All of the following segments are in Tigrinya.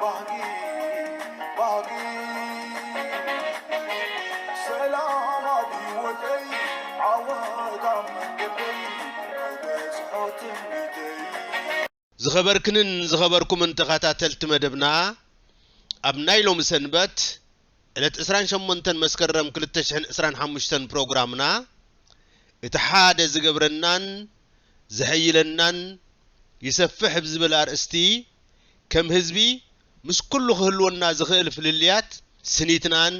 ባህጊ ባህጊ ሰላም ኣብ ሂወተይ ዓወት ኣብ መንገደይ ክበጽሖ ትምኒተይ ዝኸበርክንን ዝኸበርኩምን ተኸታተልቲ መደብና ኣብ ናይ ሎሚ ሰንበት ዕለት ዕስራን ሸሞንተን መስከረም ክልተ ሽሕን ዕስራን ሓሙሽተን ፕሮግራምና እቲ ሓደ ዝገብረናን ዘሐይለናን ይሰፍሕ ብዝብል ኣርእስቲ ከም ህዝቢ ምስ ኩሉ ክህልወና ዝኽእል ፍልልያት ስኒትናን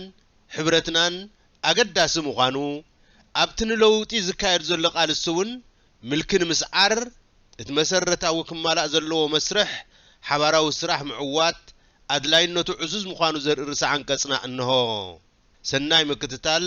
ሕብረትናን ኣገዳሲ ምዃኑ፣ ኣብቲ ንለውጢ ዝካየድ ዘሎ ቃልሲ'ውን ምልኪ ንምስዓር እቲ መሰረታዊ ክማላእ ዘለዎ መስርሕ ሓባራዊ ስራሕ ምዕዋት ኣድላይነቱ ዕዙዝ ምዃኑ ዘርኢ ርእሰ-ዓንቀጽና እነሆ። ሰናይ ምክትታል።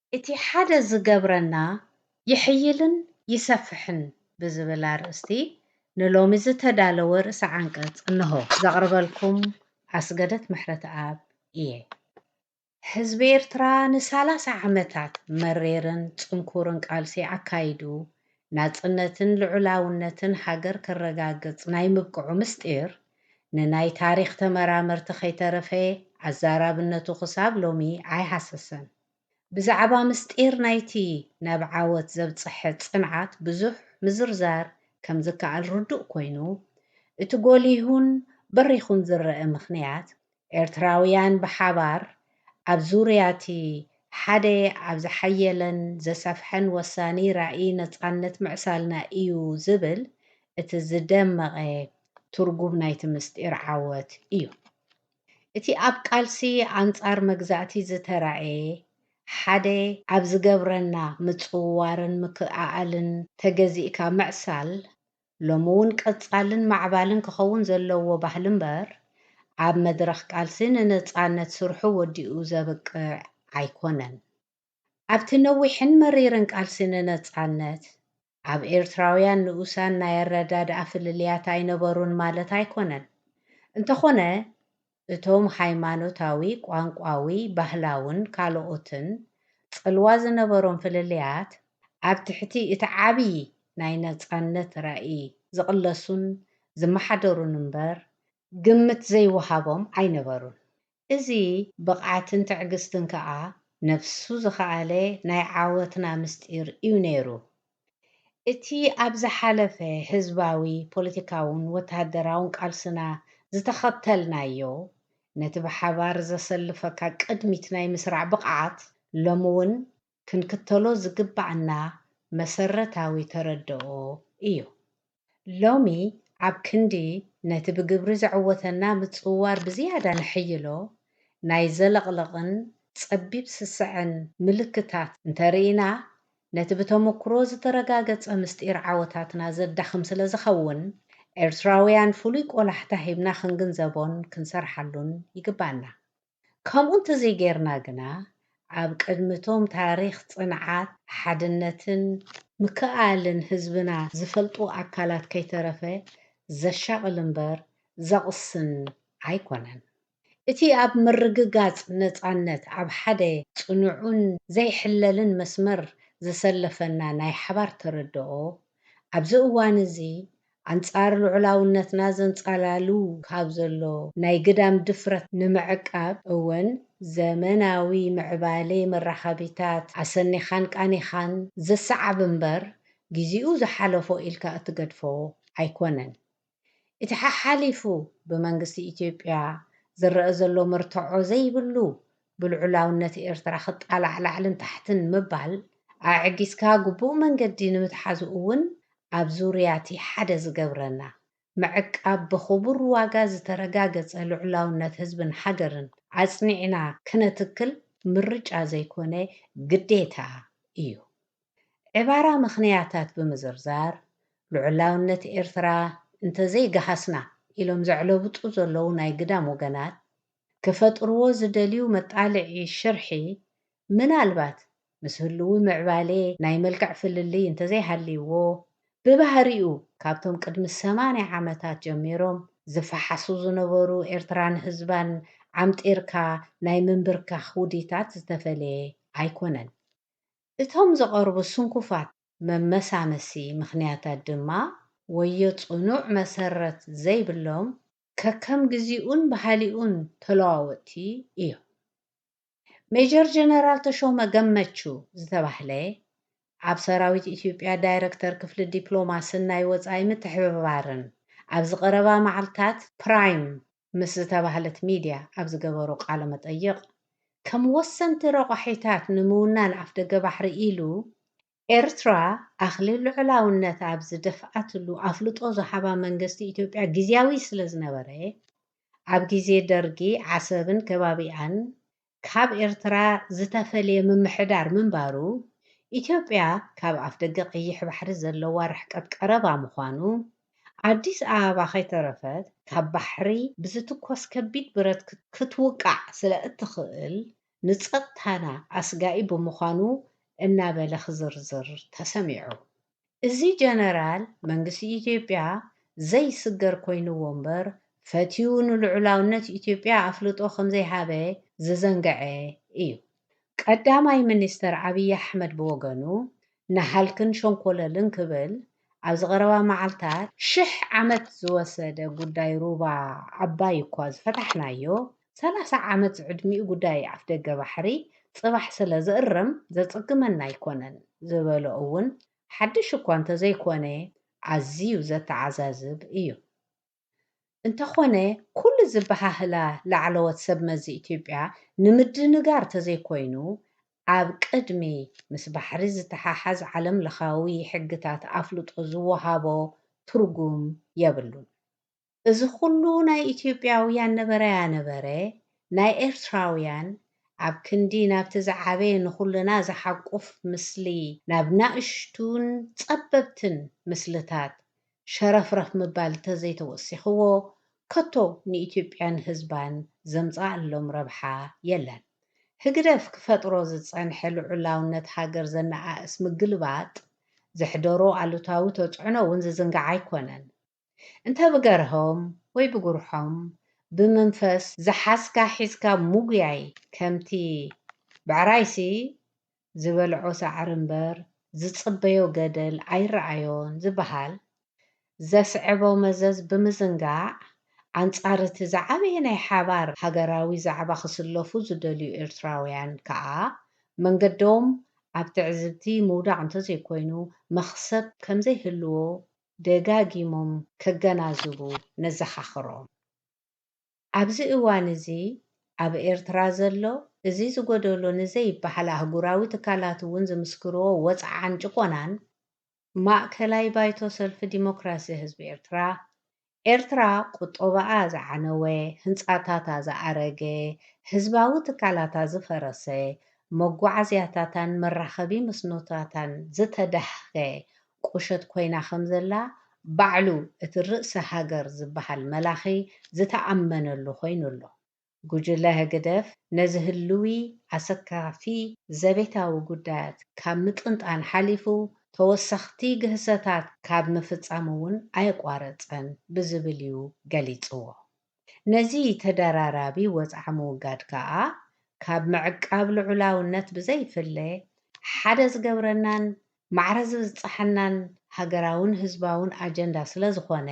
እቲ ሓደ ዝገብረና ይሕይልን ይሰፍሕን ብዝብል ኣርእስቲ ንሎሚ ዝተዳለወ ርእሰ ዓንቀጽ እነሆ። ዘቕርበልኩም ኣስገደት ምሕረትኣብ እየ። ህዝቢ ኤርትራ ንሳላሳ ዓመታት መሪርን ጽንኩርን ቃልሲ ኣካይዱ ናጽነትን ልዑላውነትን ሃገር ከረጋግጽ ናይ ምብቅዑ ምስጢር ንናይ ታሪኽ ተመራመርቲ ከይተረፈ ኣዛራብነቱ ክሳብ ሎሚ ኣይሃሰሰን። ብዛዕባ ምስጢር ናይቲ ናብ ዓወት ዘብጽሐ ጽንዓት ብዙሕ ምዝርዛር ከም ዝከኣል ርዱእ ኮይኑ፣ እቲ ጎሊሁን በሪኹን ዝረኣ ምኽንያት፣ ኤርትራውያን ብሓባር ኣብ ዙርያ'ቲ ሓደ ኣብ ዝሓየለን ዘሰፍሐን ወሳኒ ራኢ ነጻነት ምዕሳልና ኢዩ ዝብል እቲ ዝደመቐ ትርጉም ናይቲ ምስጢር ዓወት ኢዩ። እቲ ኣብ ቃልሲ ኣንጻር መግዛእቲ ዝተራእየ ሓደ ኣብ ዝገብረና ምጽውዋርን ምክእኣኣልን ተገዚእካ ምዕሳል ሎሚ'ውን ቀጻልን ማዕባልን ክኸውን ዘለዎ ባህሊ እምበር ኣብ መድረኽ ቃልሲ ንነጻነት ስርሑ ወዲኡ ዘብቅዕ ኣይኮነን። ኣብቲ ነዊሕን መሪርን ቃልሲ ንነጻነት ኣብ ኤርትራውያን ንኡሳን ናይ ኣረዳድኣ ፍልልያት ኣይነበሩን ማለት ኣይኮነን። እንተኾነ እቶም ሃይማኖታዊ፣ ቋንቋዊ፣ ባህላውን ካልኦትን ጽልዋ ዝነበሮም ፍልልያት ኣብ ትሕቲ እቲ ዓብይ ናይ ነጻነት ራኢ ዝቕለሱን ዝመሓደሩን እምበር ግምት ዘይወሃቦም ኣይነበሩን። እዚ ብቕዓትን ትዕግስትን ከኣ ነፍሱ ዝኸኣለ ናይ ዓወትና ምስጢር ኢዩ ነይሩ። እቲ ኣብ ዝሓለፈ ህዝባዊ፣ ፖለቲካውን ወተሃደራውን ቃልስና ዝተኸተልናዮ ነቲ ብሓባር ዘሰልፈካ ቅድሚት ናይ ምስራዕ ብቕዓት ሎሚ እውን ክንክተሎ ዝግብኣና መሰረታዊ ተረድኦ እዩ። ሎሚ ኣብ ክንዲ ነቲ ብግብሪ ዘዕወተና ምጽውዋር ብዝያዳ ነሐይሎ፣ ናይ ዘለቕለቕን ጸቢብ ስሰዐን ምልክታት እንተ ርኢና፣ ነቲ ብተመኩሮ ዝተረጋገጸ ምስጢር ዓወታትና ዘዳኽም ስለ ዝኸውን፣ ኤርትራውያን ፍሉይ ቆላሕታ ሂብና ክንግንዘቦን ክንሰርሓሉን ይግብኣና። ከምኡ እንተዘይገይርና ግና ኣብ ቅድሚ እቶም ታሪኽ ጽንዓት፣ ሓድነትን ምክእኣልን ህዝብና ዝፈልጡ ኣካላት ከይተረፈ ዘሻቕል እምበር ዘቕስን ኣይኮነን። እቲ ኣብ ምርግጋጽ ነጻነት ኣብ ሓደ ጽኑዕን ዘይሕለልን መስመር ዘሰለፈና ናይ ሓባር ተረድኦ ኣብዚ እዋን'ዚ ኣንጻር ልዑላውነትና ዘንጻላሉ ካብ ዘሎ ናይ ግዳም ድፍረት ንምዕቃብ እውን ዘመናዊ ምዕባሌ መራኸቢታት ኣሰኒኻን ቃኒኻን ዘሰዓብ እምበር ግዜኡ ዝሓለፎ ኢልካ እትገድፎ ኣይኮነን። እቲ ሓሓሊፉ ብመንግስቲ ኢትዮጵያ ዝረኣ ዘሎ መርትዖ ዘይብሉ ብልዑላውነት ኤርትራ ክጣላዕ ላዕልን ታሕትን ምባል ኣዕጊስካ ግቡእ መንገዲ ንምትሓዙ እውን ኣብ ዙርያቲ ሓደ ዝገብረና፣ ምዕቃብ ብኽቡር ዋጋ ዝተረጋገጸ ልዑላውነት ህዝብን ሃገርን ኣጽኒዕና ክነትክል ምርጫ ዘይኮነ ግዴታ እዩ። ዕባራ ምኽንያታት ብምዝርዛር ልዑላውነት ኤርትራ እንተዘይገሃስና ኢሎም ዘዕለብጡ ዘለዉ ናይ ግዳም ወገናት ክፈጥርዎ ዝደልዩ መጣልዒ ሽርሒ ምናልባት ምስ ህልዊ ምዕባሌ ናይ መልክዕ ፍልልይ እንተዘይሃልይዎ ብባህሪኡ ካብቶም ቅድሚ ሰማንያ ዓመታት ጀሚሮም ዝፈሓሱ ዝነበሩ ኤርትራን ህዝባን ዓምጢርካ ናይ ምንብርካኽ ውዲታት ዝተፈለየ ኣይኮነን። እቶም ዝቐርቡ ስንኩፋት መመሳመሲ ምኽንያታት ድማ ወዮ ጽኑዕ መሰረት ዘይብሎም፣ ከከም ግዚኡን ባህሊኡን ተለዋወጥቲ እዮም። ሜጀር ጀነራል ተሾመ ገመቹ ዝተባህለ ኣብ ሰራዊት ኢትዮጵያ ዳይረክተር ክፍሊ ዲፕሎማስን ናይ ወፃኢ ምትሕብባርን ኣብዚ ቀረባ መዓልታት ፕራይም ምስ ዝተባህለት ሚድያ ኣብ ዝገበሮ ቃለ መጠይቕ ከም ወሰንቲ ረቋሒታት ንምውናን ኣፍደገ ባሕሪ ኢሉ ኤርትራ ኣኽሊ ልዑላውነታ ኣብ ዝደፍኣትሉ ኣፍልጦ ዝሃባ መንገስቲ ኢትዮጵያ ግዝያዊ ስለዝነበረ፣ ኣብ ግዜ ደርጊ ዓሰብን ከባቢኣን ካብ ኤርትራ ዝተፈልየ ምምሕዳር ምንባሩ፣ ኢትዮጵያ ካብ ኣፍደገ ቀይሕ ባሕሪ ዘለዋ ርሕቀት ቀረባ ምዃኑ፣ ኣዲስ ኣበባ ከይተረፈት ካብ ባሕሪ ብዝትኮስ ከቢድ ብረት ክትውቃዕ ስለእትኽእል ንጸጥታና ኣስጋኢ ብምዃኑ እናበለ ክዝርዝር ተሰሚዑ። እዚ ጀነራል መንግስቲ ኢትዮጵያ ዘይስገር ኮይንዎ እምበር ፈትዩ ንልዑላውነት ኢትዮጵያ ኣፍልጦ ከምዘይሃበ ዝዘንገዐ እዩ። ቀዳማይ ሚኒስተር ኣብይ ኣሕመድ ብወገኑ ንሃልክን ሸንኮለልን ክብል ኣብዚ ቀረባ መዓልታት፣ ሽሕ ዓመት ዝወሰደ ጉዳይ ሩባ ኣባይ እኳ ዝፈታሕናዮ ሰላሳ ዓመት ዝዕድሚኡ ጉዳይ ኣፍደገ ባሕሪ ፅባሕ ስለ ዝእረም ዘፅግመና ኣይኮነን ዝበሎ እውን ሓድሽ እኳ እንተዘይኮነ ኣዝዩ ዘተዓዛዝብ እዩ። እንተኾነ ኩሉ ዝበሃህላ ላዕለዎት ሰብ መዚ ኢትዮጵያ ንምድንጋር ተዘይኮይኑ ኣብ ቅድሚ ምስ ባሕሪ ዝተሓሓዝ ዓለም ለኻዊ ሕግታት ኣፍልጦ ዝወሃቦ ትርጉም የብሉን። እዚ ኩሉ ናይ ኢትዮጵያውያን ነበረያ ነበረ ናይ ኤርትራውያን ኣብ ክንዲ ናብቲ ዝዓበየ ንኹልና ዝሓቁፍ ምስሊ ናብ ናእሽቱን ጸበብትን ምስልታት ሸረፍረፍ ምባል ተዘይተወሲኽዎ ከቶ ንኢትዮጵያን ህዝባን ዘምጽኣሎም ረብሓ የለን። ህግደፍ ክፈጥሮ ዝጸንሐ ልዑላውነት ሃገር ዘነኣእስ ምግልባጥ ዘሕደሮ ኣሉታዊ ተጽዕኖ ውን ዝዝንጋዕ ኣይኮነን። እንተ ብገርሆም ወይ ብጉርሖም ብምንፈስ ዝሓዝካ ሒዝካ ምጉያይ ከምቲ ብዕራይሲ ዝበልዖ ሳዕሪ እምበር ዝጽበዮ ገደል ኣይረኣዮን ዝበሃል ዘስዕቦ መዘዝ ብምዝንጋዕ ኣንጻር'ቲ ዝዓበየ ናይ ሓባር ሃገራዊ ዛዕባ ክስለፉ ዝደልዩ ኤርትራውያን ከኣ መንገዶም ኣብ ትዕዝብቲ ምውዳቕ እንተዘይኮይኑ መኽሰብ ከምዘይህልዎ ደጋጊሞም ከገናዝቡ ነዘኻኽሮም። ኣብዚ እዋን እዚ ኣብ ኤርትራ ዘሎ እዚ ዝጎደሎ ንዘይበሃል ኣህጉራዊ ትካላት እውን ዝምስክርዎ ወጽዓን ጭቆናን፣ ማእከላይ ባይቶ ሰልፊ ዲሞክራሲ ህዝቢ ኤርትራ፣ ኤርትራ ቁጠባኣ ዝዓነወ፣ ህንጻታታ ዝኣረገ፣ ህዝባዊ ትካላታ ዝፈረሰ፣ መጓዓዝያታታን መራኸቢ መስኖታታን ዝተዳህከ ቁሸት ኮይና ከም ዘላ ባዕሉ እቲ ርእሰ ሃገር ዝበሃል መላኺ ዝተኣመነሉ ኮይኑ ኣሎ። ጉጅለ ህግደፍ ነዚ ህልዊ ኣሰካፊ ዘቤታዊ ጉዳያት ካብ ምጥንጣን ሓሊፉ ተወሰኽቲ ግህሰታት ካብ ምፍጻም'ውን ኣየቋረጸን ብዝብል እዩ ገሊጽዎ። ነዚ ተደራራቢ ወጽዓ ምውጋድ ከኣ ካብ ምዕቃብ ልዑላውነት ብዘይፍለ፣ ሓደ ዝገብረናን ማዕረ ዝብጽሓናን ሃገራውን ህዝባውን ኣጀንዳ ስለዝኾነ፣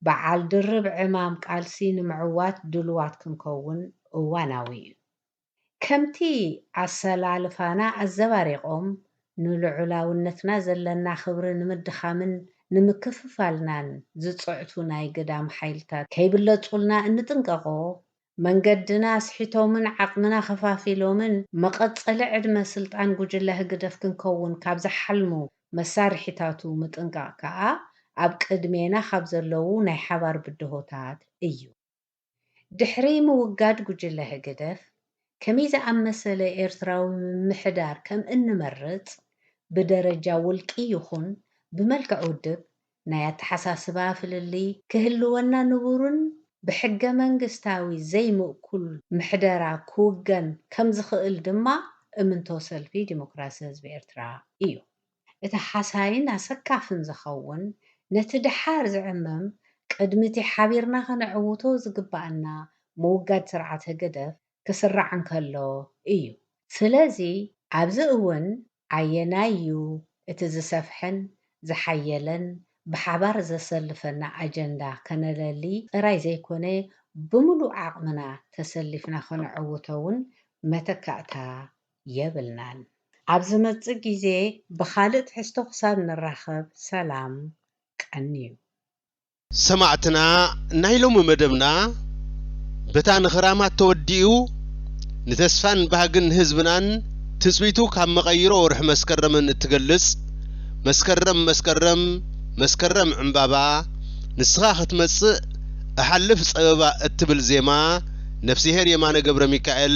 በዓል ድርብ ዕማም ቃልሲ ንምዕዋት ድሉዋት ክንከውን እዋናዊ'ዩ። ከምቲ ኣሰላልፋና ኣዘባሪቖም ንልዑላውነትና ዘለና ክብሪ ንምድኻምን ንምክፍፋልናን ዝጽዕቱ ናይ ግዳም ሓይልታት ከይብለጹልና እንጥንቀቖ፣ መንገድና ኣስሒቶምን ዓቕምና ከፋፊሎምን መቐጸሊ ዕድመ ስልጣን ጉጅለ ህግደፍ ክንከውን ካብ ዝሓልሙ መሳርሒታቱ ምጥንቃቕ ከኣ ኣብ ቅድሜና ካብ ዘለዉ ናይ ሓባር ብድሆታት እዩ። ድሕሪ ምውጋድ ጉጅለ ህግደፍ፣ ከመይ ዝኣመሰለ ኤርትራዊ ምምሕዳር ከም እንመርጽ፣ ብደረጃ ውልቂ ይኹን ብመልክዕ ውድብ፣ ናይ ኣተሓሳስባ ፍልልይ ክህልወና ንቡርን ብሕገመንግስታዊ ዘይምእኩል ምሕደራ ክውገን ከም ዝኽእል ድማ እምንቶ ሰልፊ ዲሞክራሲ ህዝቢ ኤርትራ እዩ። እቲ ሃሳይን ኣሰካፍን ዝኸውን ነቲ ደሓር ዝዕመም ቅድሚ እቲ ሓቢርና ከነዕውቶ ዝግበኣና ምውጋድ ስርዓት ህግደፍ ክስራዕ እንከሎ ኢዩ። ስለዚ ኣብዚ እውን ኣየናይ ኢዩ እቲ ዝሰፍሐን ዝሓየለን ብሓባር ዘሰልፈና ኣጀንዳ ከነለሊ ጥራይ ዘይኮነ ብምሉእ ዓቕምና ተሰሊፍና ከነዕውቶ እውን መተካእታ የብልናን። ኣብ ዝመጽእ ግዜ ብኻልእ ትሕዝቶ ክሳብ ንራኸብ ሰላም ቀንዩ። ሰማዕትና ናይ ሎሚ መደብና በታ ንኽራማት ተወዲኡ ንተስፋን ባህግን ህዝብናን ትጽቢቱ ካብ መቐይሮ ወርሒ መስከረምን እትገልጽ መስከረም መስከረም መስከረም ዕንባባ ንስኻ ክትመጽእ እሓልፍ ጸበባ እትብል ዜማ ነፍስሄር የማነ ገብረሚካኤል